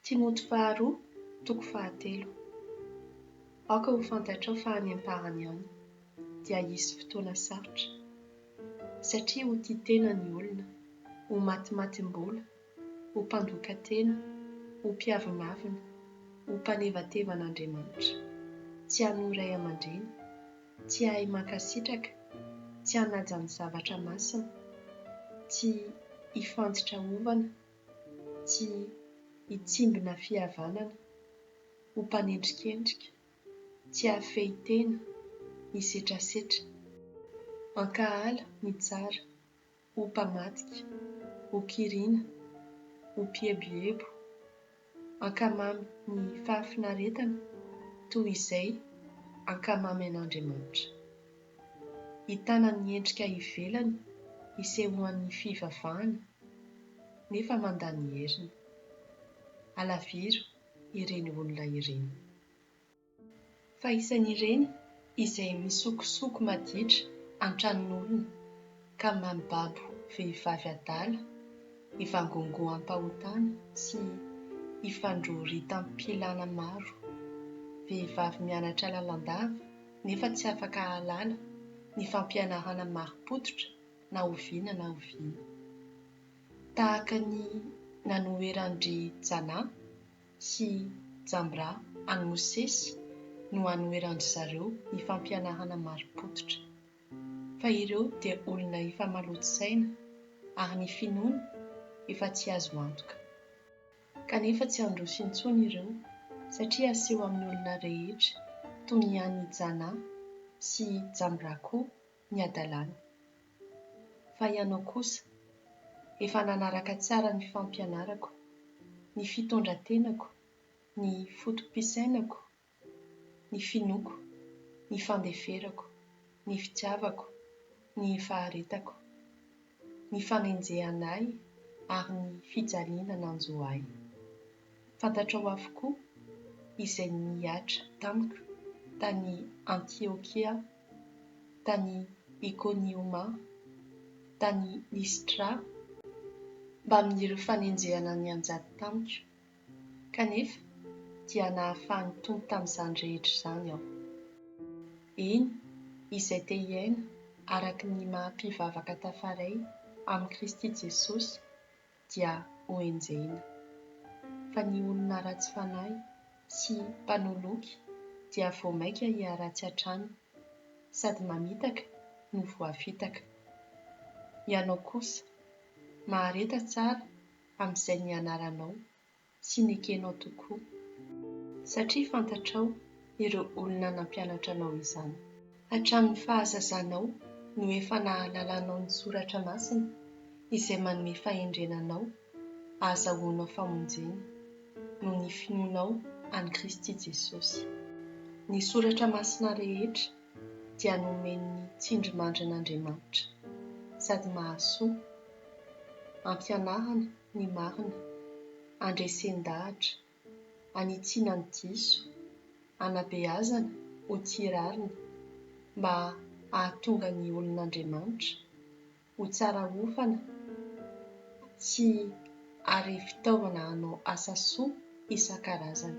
Timoty faharoa toko fahatelo. Aoka ho fantatrao fa any am-parany any dia hisy fotoana sarotra, satria ho tia tena ny olona, ho matimatim-bola, ho mpandoka tena, ho mpiavonavona, ho mpanevateva an'Andriamanitra, tsy hanohy ray aman-dreny, tsy hahay mankasitraka, tsy hanaja ny zavatra masina, tsy hifanditra ovana, tsy hitsimbina fihavanana, ho mpanendrikendrika, tsy hahafehy tena, hisetrasetra, hankahala ny tsara, ho mpamadika, ho kiriana, ho mpieboebo, hankamamy ny fahafinaretana toy izay hankamamy an'Andriamanitra. Hitana ny endrika ivelany hisehoan'ny fivavahana nefa mandà ny heriny. Alaviro ireny olona ireny. Fa isan'ireny izay misokosoko maditra an-tranon'olona ka mibabo vehivavy adala ivangongoam-pahotana sy ifandroritam-pilàna maro, vehivavy mianatra lalandava, nefa tsy afaka hahalala ny fampianarana marim-pototra na oviana na oviana. Tahaka ny nanoheran-dry Janah sy Jamrah an'i Mosesy no anoheran-dry zareo ny fampianarana marim-pototra. Fa ireo dia olona efa maloto saina ary ny finoany efa tsy azo antoka. Kanefa tsy handroso intsony ireo, satria haseho amin'ny olona rehetra, toy ny an'i Janah sy Jamrah koa, ny hadalany. Fa ianao kosa, efa nanaraka tsara ny fampianarako, ny fitondran-tenako, ny foto-pisainako ny finoako, ny fandeferako, ny fitiavako, ny faharetako, ny fanenjehana ahy ary ny fijaliana nanjo ahy. Fantatrao avokoa izay nihatra tamiko tany Antiokia, tany Ikonioma, tany Listra, mbamin'ireo fanenjehana nianjady tamiko. Kanefa dia nahafahan'ny Tompo tamin'izany rehetra izany aho. Eny, izay te hiaina araka ny maha mpivavaka tafaray amin'i Kristy Jesosy dia hoenjehina. Fa ny olona ratsy fanahy sy mpanoloky dia vao maika hiharatsy hatrany, sady mamitaka no voafitaka. Ianao kosa, mahareta tsara amin'izay nianaranao sy nekenao tokoa, satria fantatrao ireo olona nampianatra anao izany. Hatramin'ny fahazazanao no efa nahalalanao ny Soratra Masina, izay manome fahendrena anao hahazahoanao famonjena, noho ny finoanao an'i Kristy Jesosy. Ny Soratra Masina rehetra dia nomen'ny tsindrimandrin'Andriamanitra sady mahasoa, ampianarana ny marina, andresen-dahatra, anitsiana ny diso, anabeazana ho tia rariny mba hahatonga ny olon'Andriamanitra ho tsara hofana sy ary fitaovana hanao asa soa isan-karazany.